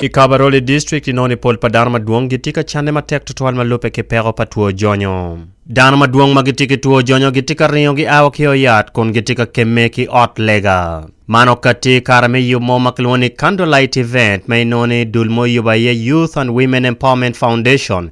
I Kabarole District inoni pol pa dano madwong gitye ka canne matek tutwal ma lubbe ki peko pa two jonyo. Dano madwong ma gitye ki two jonyo gitye ka ringo gia wa ki oyat kun gitye ka kemme ki ot lega. Man okatti i kare me yub mo ma kilwongo ni Candlelight Event ma inoni dul mo oyubo aye Youth and Women Empowerment Foundation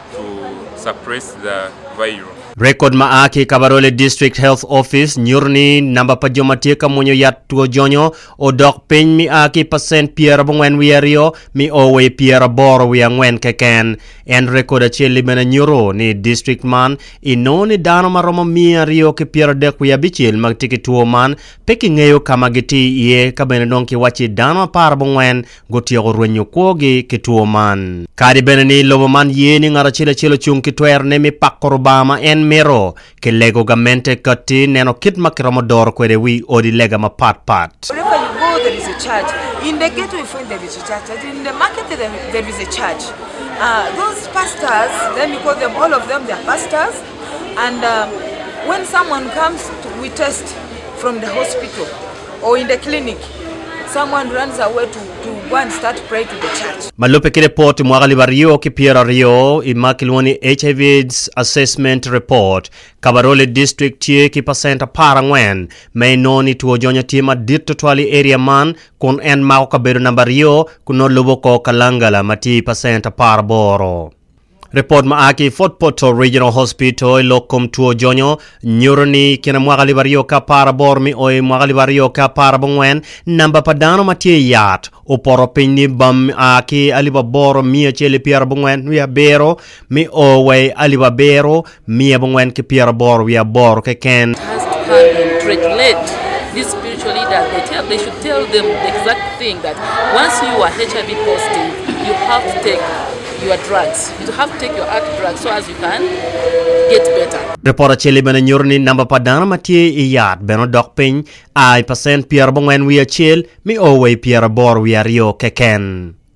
to suppress the virus. Rekod ma a ki i Kabarole District Health Office nyuto ni namba pa jo ma tye ka mwonyo yat two jonyo odok piny mi a ki pacent pyerabongwen wiye aryo mi o wa i pyeraboro wiye angwen keken. En rekod acel-li bene nyuto ni i district man i nongo ni dano ma romo miya aryo ki pyeradek wiye abicel ma gitye ki two man pe kingeyo ka ma gitye iye ka bene dong kiwacci dano aparabongwen gutyeko rwenyo kwogi ki two man. Kadi bene ni lobo man ye ni ngat acel acel ocung ki twerone me pako Rubanga ma en mito, kilego gamente kati neno kit ma kiromo doro kwede wi odi lega mapat pat. Ma lubbe ki lipot mwaka alip aryo ki pyero aryo i ma kilwongo ni HIV AIDS Assessment Report, Kabarole District tye ki pacent apar angwen ma inongo ni two jonya tye madit tutwal i area man kun en mako kabedo namba aryo kun nongo lubo kor Kalangala ma tye i pacent apar aboro. Ripot ma a ki i Fort Portal Regional Hospital i lok kom two jonyo nyuto ni i kine mwaka alip aryo ki apar aboro mi o i mwaka alip aryo ki apar abongwen, namba pa dano ma tye i yat opoto piny ni bam a ki alip aboro miya acel ki pyera abongwen wiye abiro mi o wa i alip abiro Miyo abongwen ki pyera aboro wiye aboro keken. Ripot acel-li bene nyuto ni namba pa dano ma tye i yat bene odok piny a i pacent pyera abongwen wiye acel mi o wa i pyera aboro wiye aryo keken.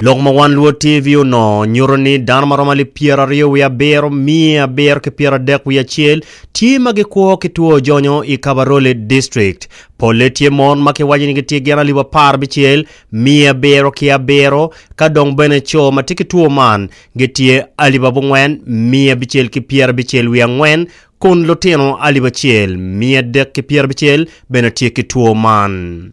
Lok ma One Luo TV onongo nyuto ni dano ma romo alip pyeraryo wiye abiro, miya abiro ki pyeradek wiye acel tye ma gikwo ki two ojonyo i Kabarole District. Polle tye mon ma kiwaco ni gitye gin alip apar abicel, miya abiro ki abiro, ka dong bene co ma tye ki two man gitye alip abongwen, miya abicel ki pyerabicel wiye angwen, kun lutino alip acel, miya adek ki pyerabicel bene tye ki two man.